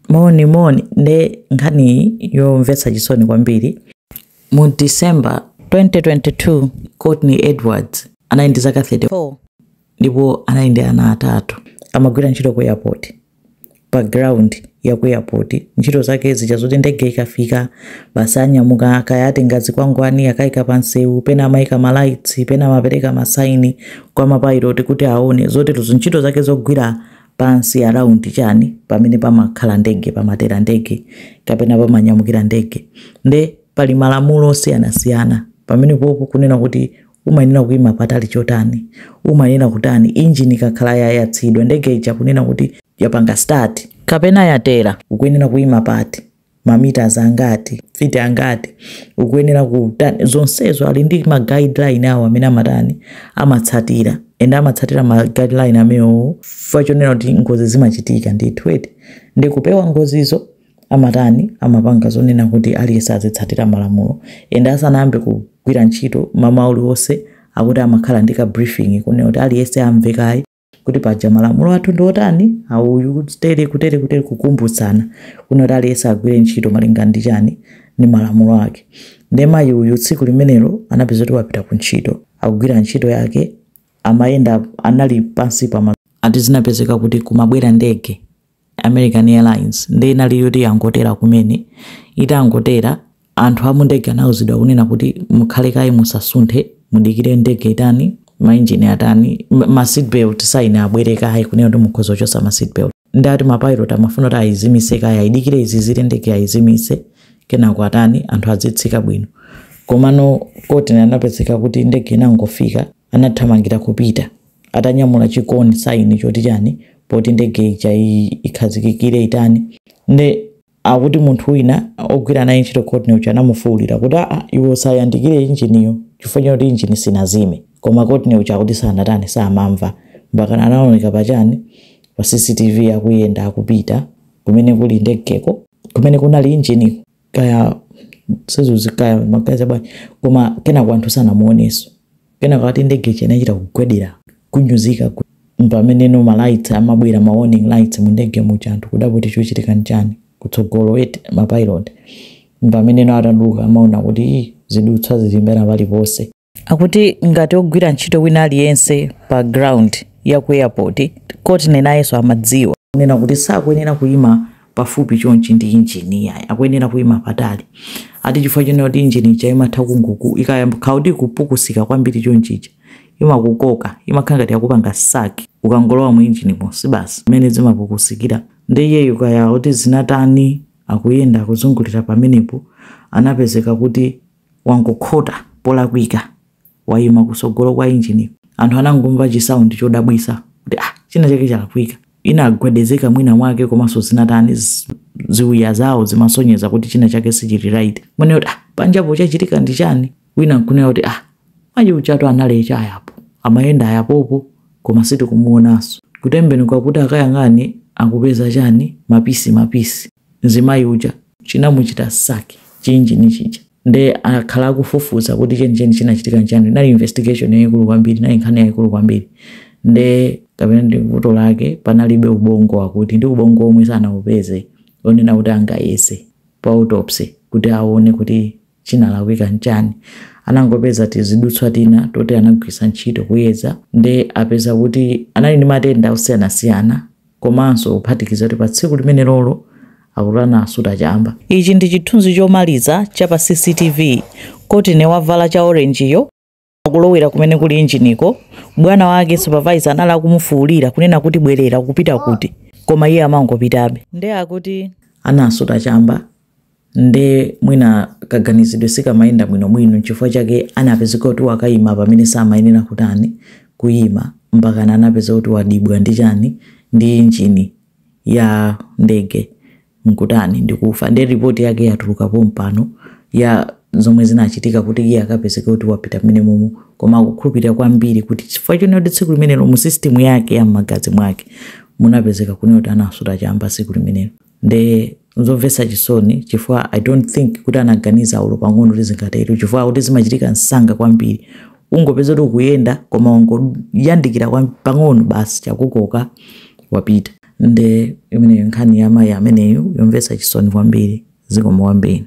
Moni moni nde nkhani iyi yomvetsa chisoni kwambiri mu December 2022 Courtney Edwards anali ndi zaka 34 ndipo anali ndi ana atatu amagwira ntchito ku airport pa ground ya ku airport ntchito zake zija zoti ndege ikafika basi anyamuka kaya atenga zikwangwani akaika pa msewu pena amaika malaitsi pena amapereka masaini kwa mapayiloti kuti aone zoterozo ntchito zake zogwira pansi around chani pamene pamakhala ndege pamatera ndege kapena pamanyamukira ndege nde pali malamulo osiyanasiyana pamene popo kunena kuti umayenera kuima patali chotani umayenera kutani injini ikakhala yayatsidwa ndege ija kunena kuti yapanga start kapena yatera ukuyenera kuima pati ma meters angati, feet angati, ukuyenera kutani, zonsezo ali ndi ma guideline awo amene amatani amatsatira and amatsatira ma guideline amenewo chifukwa chonena kuti ngozi zimachitika ndithu eti ndi kupewa ngozizo amatani amapanga zonena kuti aliyense azitsatira malamulo and asanayambe kugwira ntchito mamawa uliwonse akuti amakhala ndi ka briefing kunena kuti aliyense amve kaye kuti paja malamulo athu ndiotani auyu kutere kutere kutere kukumbutsana kunena kuti aliyense agwire ntchito malinga ndi chani ndi malamulo ake nde mayi uyu tsiku limenelo anapeza kuti wapita ku ntchito akugwira ntchito yake amayenda anali pansi pa ma- ati zinapezeka kuti kumabwera ndege American Airlines nde inali yoti yangotera kumene, itangotera anthu amundege anauzidwa kunena kuti mukhale kaye musasunthe mudikire ndege itani ma engine atani ma seat belt sign abwere kaye kunena kuti mukhoza kuchotsa ma seat belt nde ati ma pilot amafuna kuti ayizimise kaye ayidikire izizire ndege ayizimise kenako atani anthu azitsika bwino komano Courtney anapezeka kuti ndege inangofika anathamangira kupita atanyamula chikoni saini choti chani poti ndege ija i- ikhazikikire itani nde akuti munthu wina ogwira naye ntchito Courtney uja anamufuwulira kuti aa iwe usayandikire injiniyo chifukwa chakuti injini sinazime koma Courtney uja akuti sanatani samamva mpaka anaoneka pachani pa cctv akuyenda akupita kumene kuli ndegeko kumene kunali injiniko kaya sazuzi kaya amaganiza bwanji koma kenako anthu sanamuoneso kenako ati ndege ija inachita kugwedera kunyuzika ku- mpamene no malights amabwera ma warning lights mu ndege muja anthu kudabwa kuti chochitika nchani kutsogolo eti mapilot mpamene no atatuluka amaona kuti "Ih, zidutswa zili mbwee paliponse akuti ngati ogwira ntchito wina aliyense pa ground ya ku airport Courtney nayenso amadziwa kunena kuti sakuyenera kuyima pafupi chonchi ndi injini yayi akuyenera kuyima patali ati chifukwa chonena kuti injini ija imatha kunguku ikayamba kuti kupukusika kwambiri chonchija imakukoka imakhala ngati yakupanga suck ukangolowa mu injini monse basi mmene zimapukusikira nde iyeyo kaya kuti zinatani akuyenda akuzungulira pamenepo anapezeka kuti wangokhota polakwika wayima kusogolo kwa engine anthu anangomva chi sound chodabwisa kuti ah china chake chalakwika inagwedezeka mwina mwake komanso zinatani zi- ziwiya zawo zimasonyeza kuti china chake sichili right nkumanena kuti ah panjapo chachitika ndi chani wina nkunena kuti ah mayi ujatu analetu apapa amayenda apapo koma sitikumuonanso kutembenuka kuti akayang'ane akupeza chani mapisi mapisi mzimayi uja chinamuchita suck chi engine chija nde akhala akufufuza kuti chenicheni chinachitika nchani inali investigation yayikulu kwambiri inali nkhani yayikulu kwambiri nde kapena ndi vuto lake panalibe ubongo akuti ndi ubongo omwe sanaupeze onena kuti angayese pa autopsy kuti aone kuti chinalakwika nchani? anangopeza tizidutswa tina toti anagwiritsa ntchito kuyeza nde apeza kuti anali ndi matenda osiyanasiyana komanso kuphatikiza kuti pa tsiku limenelolo akuti anasuta chamba. Ichi ndi chithunzi chomaliza cha pa CCTV. Courtney wavala cha orange yo. akulowera kumene kuli injiniko bwana wake supervisor anali akumufuulira kunena kuti bwerera kupita kuti koma iye amangopitabe nde akuti anasuta chamba nde mwina kaganizidwe sikamayenda bwinobwino nchifukwa chake anapezeka kuti wakayima pamene samayenera kutani kuyima mpakana anapezeka kuti wadibwa ndi chani ndi injini ya ndege nkutani ndikufa ndiye report yake yatuluka pompano ya zomwe zinachitika kuti iye akapezeke kuti wapita mmenemomo koma akukhulupirira kwambiri kuti chifukwa chonena kuti tsiku limenelo mu system yake ya m'magazi mwake munapezeka kunena kuti anasuta chamba tsiku limenelo nde Nzomvetsa chisoni chifukwa I don't think kuti anaganiza olo pang'ono kuti zingatero chifukwa kuti zimachitika msanga kwambiri. Ungopeza kuti ukuyenda koma wangoyandikira kwa- pang'ono basi chakukoka wapita. Nde imeneyo nkhani ya mayi ameneyu yomvetsa chisoni kwambiri zikomo kwambiri.